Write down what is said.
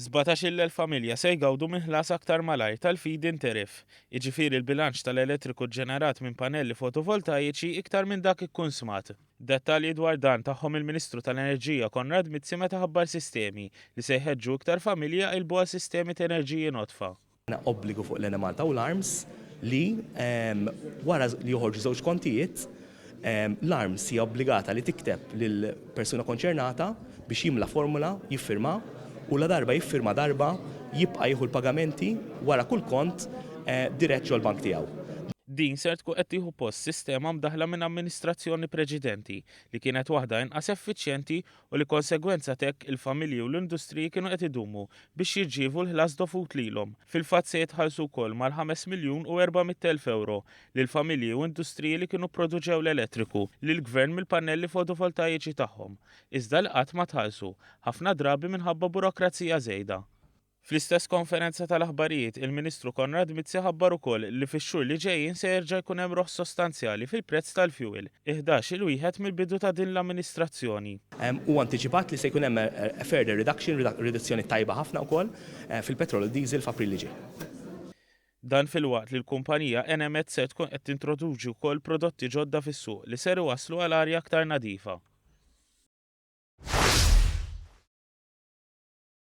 Sbatax-il familja se jgawdu minn ħlas aktar malajr tal-feed-in tariff, jiġifieri l-bilanċ tal-elettriku ġġenerat minn pannelli fotovoltajiċi iktar minn dak ikkunsmat. Dettalji dwar dan tagħhom il-Ministru tal-Enerġija Konrad Mizzi meta ħabbar sistemi li se jħeġġu iktar familji jqillbu għal sistemi t'enerġiji nodfa. obbligu fuq l-Enemalta u l-Arms li, wara li joħorġu żewġ kontijiet, l-Arms hija obbligata li tikteb lill-persuna konċernata biex jimla formola, jiffirma, u ladarba jiffirma darba, jibqa' jieħu l-pagamenti wara kull kont dirett ġol-bank tiegħu. Din ser tkun qed tieħu post sistema mdaħħla minn amministrazzjoni preċedenti li kienet waħda inqas effiċjenti u li konsegwenza t'hekk il-familji u l-industriji kienu qed idumu biex jirċievu l-ħlas dovut lilhom. Fil-fatt se jitħallsu wkoll mal-ħames miljun u erba' mitt elf ewro lil familji u industriji li kienu pproduċew l-elettriku lill-Gvern mill-pannelli fotovoltajiċi tagħhom, iżda li qatt ma tħallsu, ħafna drabi minħabba burokrazija żejda. Fl-istess konferenza tal-aħbarijiet, il-Ministru Konrad Mizzi ħabbar ukoll li fix-xhur li ġejjin se jerġa' jkun hemm roħs sostanzjali fil-prezz tal-fjuwil, iħdax-il wieħed mill-bidu ta' din l-amministrazzjoni. Huwa antiċipat li se jkun hemm a further reduction, riduzzjoni tajba ħafna wkoll, fil-petrol u d-diesel f'April li ġej. Dan filwaqt li l-kumpanija Enemed ser tkun qed tintroduċi wkoll prodotti ġodda fis-suq li ser iwasslu għal arja aktar nadifa.